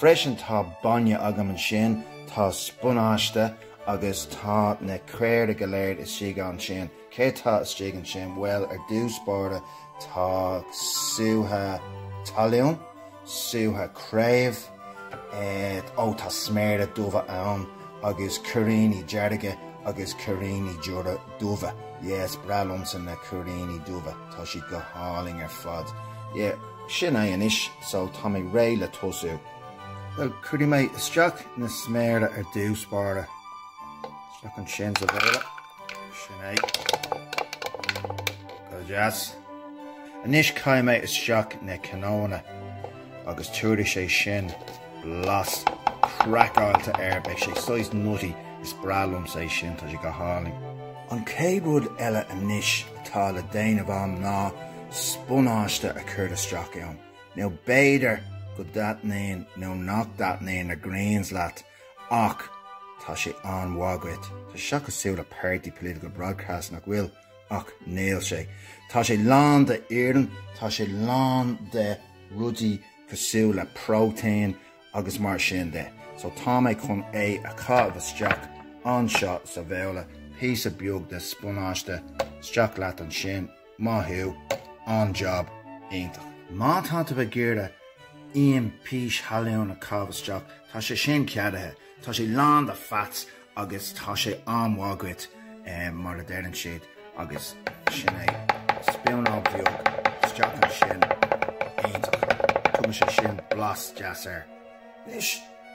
Freisin tá bainne agam ansin, tá spionáiste agus tá na caora go léir istigh ansin. Céard tá istigh ansin? Bhuel ar dtús báire tá sútha talún, sútha craobh, eh ó tá sméara dubha ann agus cuiríní dearga agus cuiríní dubha, yes is breá liomsa na cuiríní dubha. Tá siad go hálainn ar fad. Ye, sin é anois, so tá mé réidh le tosú. Bhuel, cuirfidh mé isteach na sméara ar dtús báire. Isteach ansin sa bhabhla. Sin é. Go deas. Anois caithfidh mé isteach na cnónna agus tabharfaidh sé sin blas craiceáilte air, beidh sé saghas nutty, is breá liomsa é sin, tá sé go hálainn. An chéad rud eile anois atá le déanamh agam ná spionáiste a chur isteach ann, now b'fhéidir go dtaitníonn nó nach dtaitníonn na greens leat ach tá sé an-mhaith dhuit. Tá sé seo cosúil le party political broadcast, nach bhfuil? Ach níl sé. Tá sé lán de iarann, tá sé lán de rudaí cosúil le próitéin agus mar sin de, so tá mé chun é a chaitheamh isteach anseo sa bhabhla, píosa beag de spionáiste, isteach leat ansin, maith thú, an-jab, iontach. Má tá tú ag iarraidh im pís thalún a chaitheamh isteach, tá sé sin ceadaithe, tá sé lán de fats agus tá sé an-mhaith dhuit mar a deireann siad agus sin é, spúnóg bheag isteach ansin, iontach, tugann sé sin blas deas air. Anois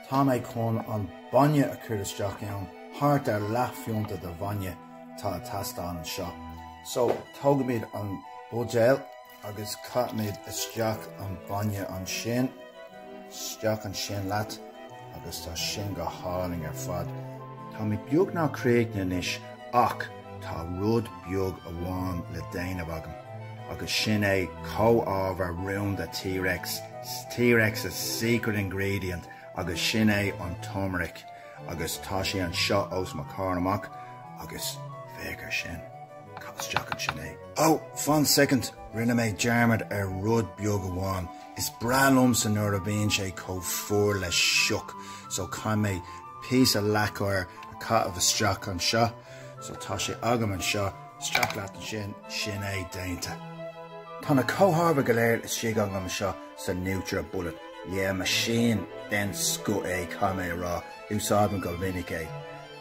tá mé chun an bainne a chur isteach ann, thart ar leathphionta de bhainne atá ag teastáil anseo, so tógaimid an buidéal, agus caithfimid isteach an bainne ansin. Isteach ansin leat agus tá sin go hálainn ar fad. Tá mé beagnach críochnaithe anois ach tá rud beag amháin le déanamh agam agus sin é comhábhar rúnda T-Rex, T-Rex's secret ingredient agus sin é an turmeric agus tá sé anseo os mo chomhair amach agus féach ar sin. Isteach ansin é. Oh, fán soicind, rinne mé dearmad ar rud beag amháin, is breá liomsa nuair a bhíonn sé chomh fuar le sioc, so caithfidh mé píosa leac oighir a chaitheamh isteach anseo, so tá sé agam anseo, isteach leat ansin, sin é, déanta. Tá na comhábhair go léir istigh agam anseo sa Nutribullet, yeah, machine den scoth é, caithfidh mé a rá, úsáidim go minic é.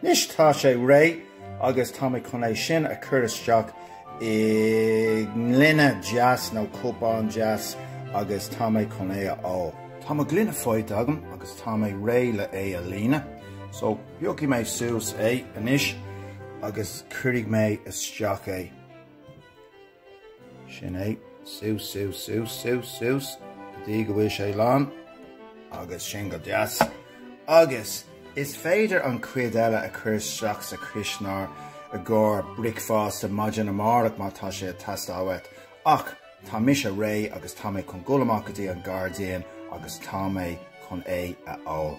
Anois tá sé réidh agus tá mé chun é sin a chur isteach i ngloine deas nó cupán deas agus tá mé chun é a ól. Tá mo ghloine faighte agam agus tá mé réidh le é a líonadh, so piocfaidh mé suas é anois agus cuirfidh mé isteach é. Sin é. Suas, suas, suas, suas, suas, go dtí go bhfuil sé lán, agus sin go deas. Agus is féidir an cuid eile a chur isteach sa chuisneoir i gcomhair bricfeasta maidin amárach má tá sé ag teastáil uait. Ach tá mise réidh agus tá mé chun dul amach go dtí an gairdín agus tá mé chun é a ól.